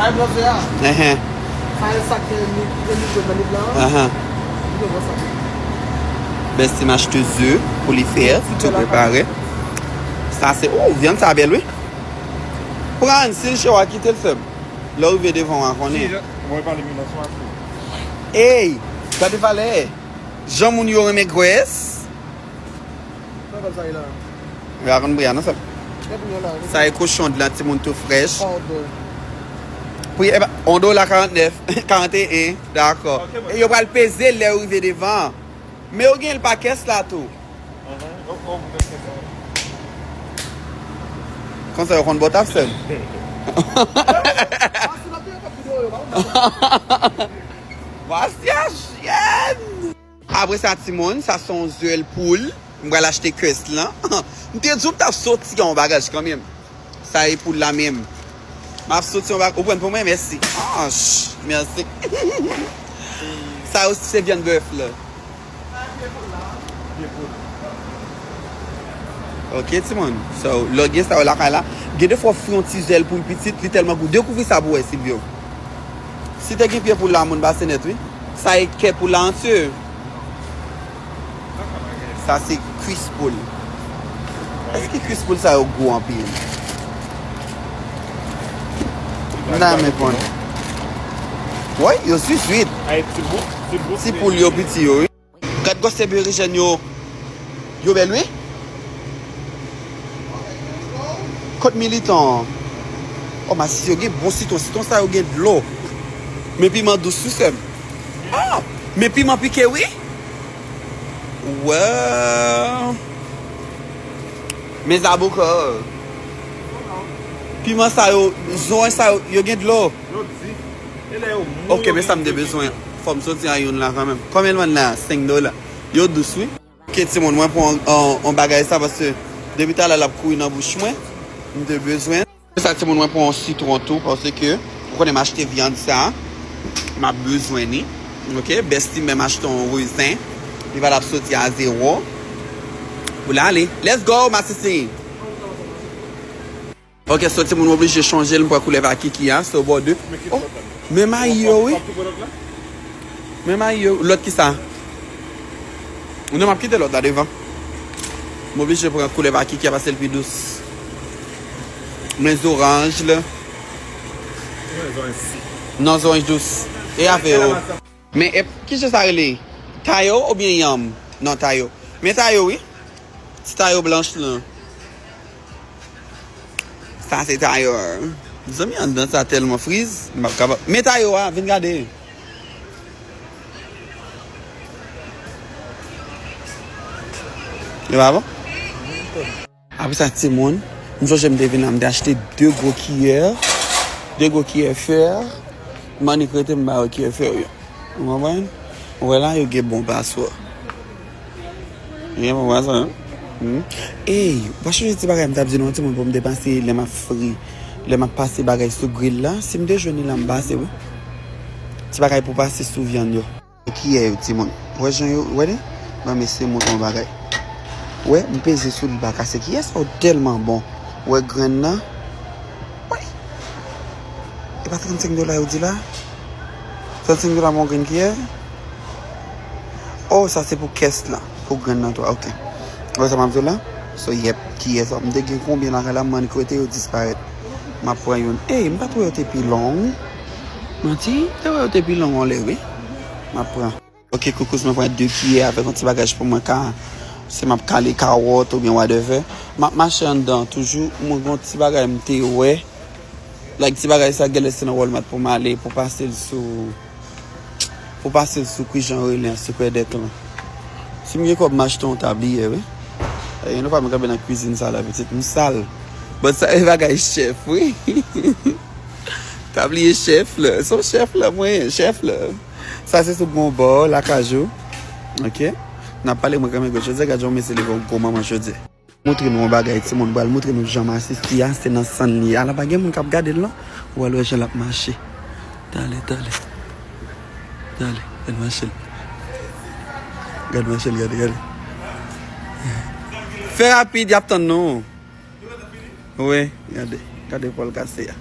Kay blanche a. Ehe. Kay sa ke li ke li jwen nan li blan. Aha. Li gen bon sante. Bestie m achte ze pou li fè, pou tou prepare. Sa se, ou, vyann sa bel wi. Pran, si l cho a kite l fèb. Lè w rive devan wa konnen. Si, mwen pale mi nan swa fou. Ey, gade valè. Jan moun yo renmen graisse. Sa e kochon de la timoun tou frech. Pou e ba, on do la 49, 41, dako. E yo pral peze lè ou rive devan. Me ou gen l pa kes la tou. Konsa yo konn bot ap sel. Vwa syaj, yen! Apre sa timoun, sa son zuel poul m pral achte kess lan. M te diw m tap soti yon bagaj kanmenm. Sa e poul la menm. Map soti yon bagaj. Ou prann pou mwen? Mèsi. Anch! Mèsi. Sa yo se vyann bèf la. Sa e pye poul la a? Pye poul. Ok timoun. So, lè w gen sa yo lakay la. Gen defwa w fri yon ti zuel poul pitit, li tèlman gou. Dekouvri sa pou wè Silvio. Si te gen pye pou la moun ba se net wi. Sa e kè pou la antye. Sa se kwis poul. Eske kwis poul sa yo gou anpil. M ta renmen konn. Woy yo swit swit. Ti poul yo piti yo wi. Gad goste berejèn yo Yo bèl wi Kot militan an Oh masisi yo gen bon sitron Sitron sa yo gen dlo Men piman dous wi sèm Oh men piman pike wi Woww Men zaboka Piman sa yo Zoen sa yo Yo gen dlo Yo di. Ok men sam te bezwen fòm soti a youn la kanmenm Kòm el vann la a 5 dola yo dous wi. Ok ti moun mwen pran yon bagay sa paske depi talè lap kouri nan bouch mwen m te bezwen. Apre sa ti moun mwen pran yon sitron tou paske ou konnen m achte vyann sa map bezwen li ok Bestie menm achte yon rezen li valab soti a zero pou lale let's go masisi. Ok so timoun oblije chanje l m pran koulè pa kiki a so bò de oh men mayi yo wi men mayi yo lot kisa non map kite lot la devan m oblije pran koulè pa kiki a pase l pi dous men zoranj l non zoranj dous e ave yo. Men ep ki chen sa rele tayo oubyen yanm non tayo men tayo wi ti tayo blanch lan sa se tayo mezanmi anndan sa tèlman friz m pap kapab men tayo a vin gade li pa bon? Apre sa timoun, m sonje m te vin la, m te achte de gwo kiyè, de gwo kiyè fè, m annik rete m ba yo kiyè fè yo. Ou konprann? Ou wè la yo gen bon paswa. Yo gen bon paswa non. Hum. Ey, ou pa sonje ti bagay m t ap di nou an timoun pou m te pase lè m ap fri, lè m ap pase bagay sou gril la, si m te jwenn li la m pase wi. Ti bagay pou pase sou vyann yo. Kiyè yo timoun wè jan yo wè li nan mesye mouton bagay wè m peze sou li pa kase kiyè sa ou telman bon wè grenn nan woy e pa 35 dola yo di la 35 dola pou yon grenn kiyè oh sa se pou kès lan pou grenn nan tou ok ou wè sa map di la so yep kiyè sa m te gen konbyen lakay la m mande kote yo disparèt map pran youn ey m pat wè yo te pi long. Manti te wè yo te pi long yon lè wi map pran. Ok koukous mwen pran 2 kiyè avèk yon ti bagaj pou mwen ka si map kale kawòt oubyen wadèvè map mache anndan toujou mwen gon ti bagay mte wè like ti bagay sa gèlè se nan walmart pou male pou pasel sou pou pasel sou ki jan rele an sekrè dèk lan sim gen kòb machte yon tabliyè wi eee nou pabn kanpe nan kwizin sa la pitit msal but sa e bagay chèf wi. Ta bliye chef la. Son chef la mwen, chef la. Sa se sou bon bò, lakajou. Ok. Nan pale mwen kame gò chodiè, gad yon mesye leve yon gwo manman chodiè. Moutre nou yon bagay ti moun, bal moutre nou jan masisi a, se nan sann li ye. A la pa gen moun kap gadel non. Ou al wè jan lap mache. Tale, tale. Tale, gad machel. Gad machel, gade, gade. Fè rapid yap tann nou. Wi gade gade epòl kase a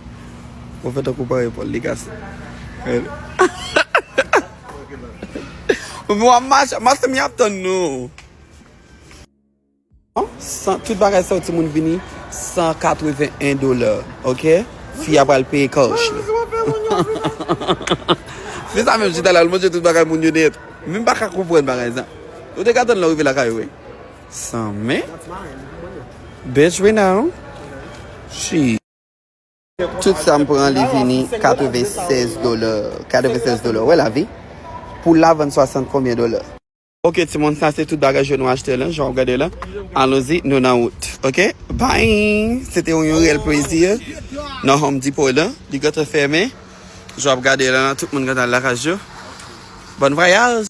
ou fè tankou ou pa wè epòl li kase Ougan wap mache mache m ap tann nou San tout bagay sa yo timoun vini 181 dola ok fi a pral peye kouch li Fi sa menm chita la l manje tout bagay moun yo nèt menm pa ka konprann bagay sa Ou te ka tann lè w rive lakay ou wi San men. Best renown. She. Tout sa m pran li vini 96 dola 96 dola ou wè lavi pou la vann 60 konbyen dola. Ok timoun sa se tout bagay je nou achte lan jan wap gade la alonzi nou nan wout ok bye se te yon yon reyèl plezi nan home depot lan li gentan fèmen jan wap gade lan tout moun gentan al lakaj yo bon vwayaj.